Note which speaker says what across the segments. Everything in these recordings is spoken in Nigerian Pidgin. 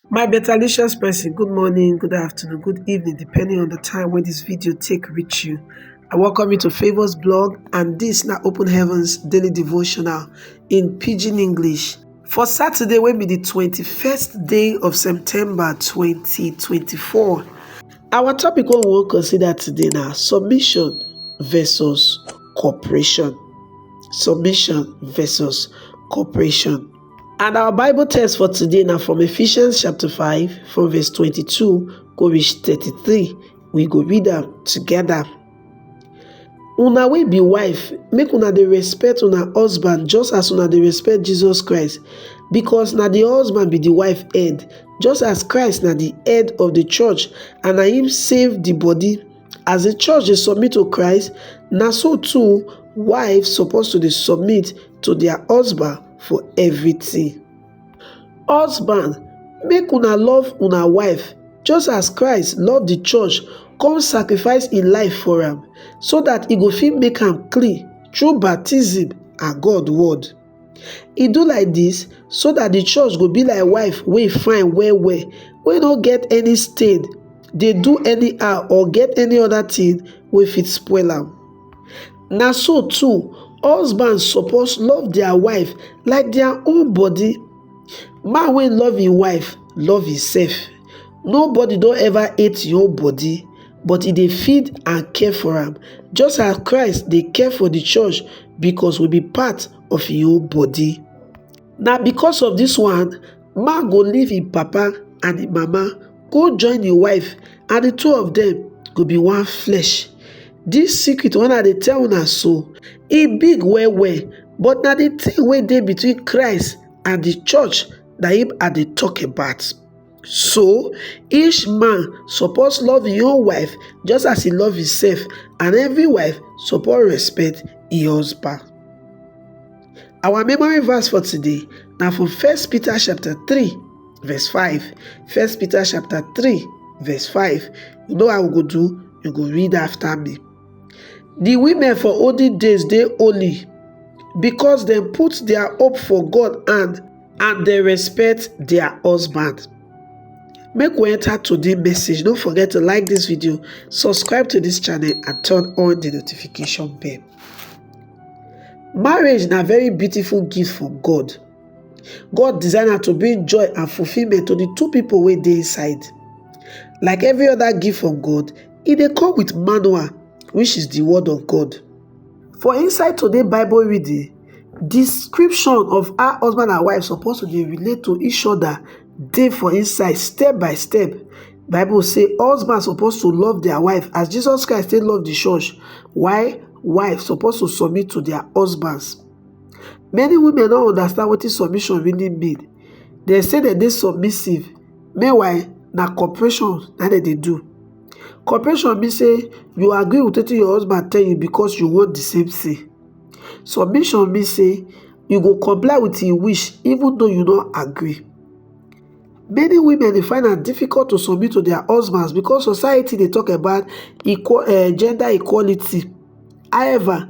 Speaker 1: My betalicious person good morning, good afternoon, good evening depending on the time wey this video take reach you. I welcome you to Favours blog and this na Open Heavens daily devotional in pidgin English. For Saturday wey be the 21st day of September 2024, our topic wey we wan consider today na submission versus cooperation. Submission versus cooperation. And our Bible text for today now from Ephesians chapter 5 from verse 22 go reach 33. We go read them together. Una will be wife, make una the respect una husband just as una the respect Jesus Christ, because na the husband be the wife head, just as Christ na the head of the church, and na him save the body As the church dey submit to Christ, na so too wives suppose to dey submit to their husband for everything. Husband, make una love una wife just as Christ love the church come sacrifice im life for am so that e go fit make am clean through baptism and God word. He do like this so that the church go be like wife wey fine well well, wey no get any stain, dey do anyhow or get any other thing wey fit spoil am. Na so too, husband suppose love their wife like their own body. Man wey love im wife love himself. Nobody don ever hate im own body. but e dey feed and care for am, just as Christ dey care for the church because we be part of him own body. Na because of this one, man go leave him papa and him mama, go join him wife, and the two of them go be one flesh. This secret when I dey tell una so, e big well well, but na the thing wey dey between Christ and the church na him I dey talk about. So, each man suppose love im own wife just as e love himself, and every wife suppose respect im husband. Our memory verse for today na from 1 Peter chapter 3 verse 5. 1 Peter chapter 3 verse 5. You know how we go do? You go read after me. di women for olden days dey holy because dem put dia hope for God hand and dem respect dia husband. Make we enter today message, no forget to like dis video, subscribe to dis channel and turn on di notification bell. Marriage na very beautiful gift from God. God design am to bring joy and fulfillment to the two people wey dey inside. Like every other gift from God, e dey come with manual which is the word of God. For inside today Bible reading, description of how husband and wife suppose to dey relate to each other dey for inside step by step. Bible say husband suppose to love their wife as Jesus Christ take love the church while wife suppose to submit to their husbands. Many women no understand wetin submission really mean. Dem say dem dey submissive, meanwhile na cooperation na dem dey do. Cooperation mean say you agree with wetin your husband tell you because you want the same thing. Submission mean say you go comply with im wish even though you no agree. Many women dey find am difficult to submit to their husbands because society dey talk about equal um gender equality. However,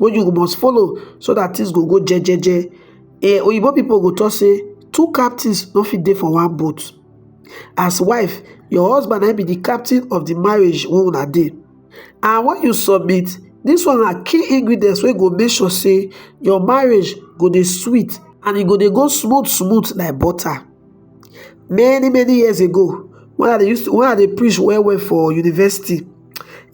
Speaker 1: wey you must follow so that things go go jejeje eh, oyibo people go talk say two captains no fit dey for one boat as wife your husband na be the captain of the marriage wey una dey and when you submit this one na key ingredients wey go make sure say your marriage go dey sweet and e go dey go smooth smooth like butter many many years ago when i dey use when i dey preach well well for university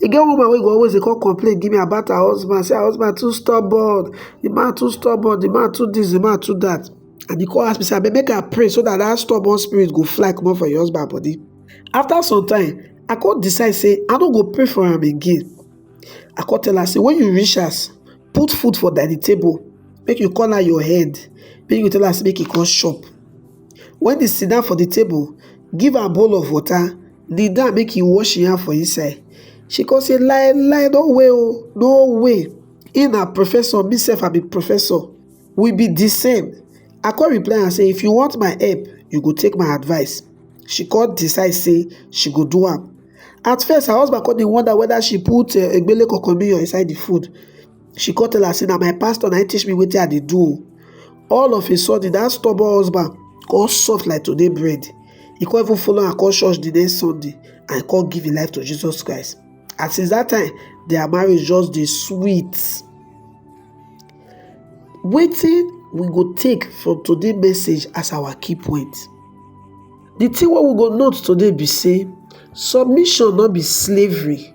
Speaker 1: e get woman wey go always dey come complain give me about her husband say her husband too stubborn the man too stubborn the man too this the man too that and he come ask me say abeg make i pray so that that stubborn spirit go fly comot for your husband body after some time i come decide say i no go pray for am again i come tell her say when you reach house put food for dining table make you call her your head make you tell her say make you come chop Wen e sidan for di table, give am bowl of wota, kneel down make e wash im hand for inside. She kon sey, Lai lai, no way o, no way, im na professor, me sef I be professor, we be di same. I kon reply am sey, if you want my help, you go take my advice. She kon decide sey she go do am. At first, her husband kon dey wonder weda she put egbele kokomiyo inside di food. she come tell her say na my pastor na him teach me wetin i dey do o all of a sudden that stubborn husband come soft like today bread he come even follow her come church the next sunday and he come give him life to jesus christ and since that time their marriage just dey sweet wetin we go take from today message as our key point the thing wey we go note today be say submission no be slavery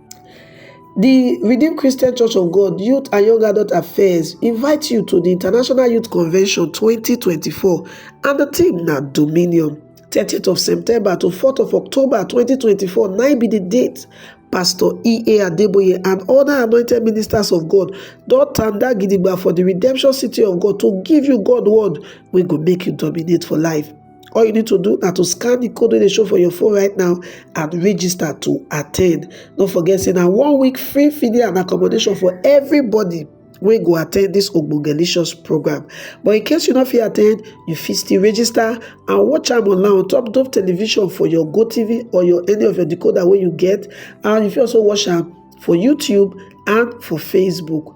Speaker 1: The Redeemed Christian Church of God Youth and Young Adult Affairs invite you to the International Youth Convention 2024 and the theme na Dominion. 30th of September to 4th of October 2024 na be the date Pastor E.A. Adeboye and other anointed ministers of God don tanda gidigba for the redemption city of God to give you God word wey go make you dominate for life. all you need to do na to scan the code wey dey show for your phone right now and register to attend no forget say na one week free feeding and accommodation for everybody wey go attend this ogbogelicious program but in case you no fit attend you fit still register and watch am online on top dove television for your gotv or your any of your decoder wey you get and you fit also watch am for youtube and for facebook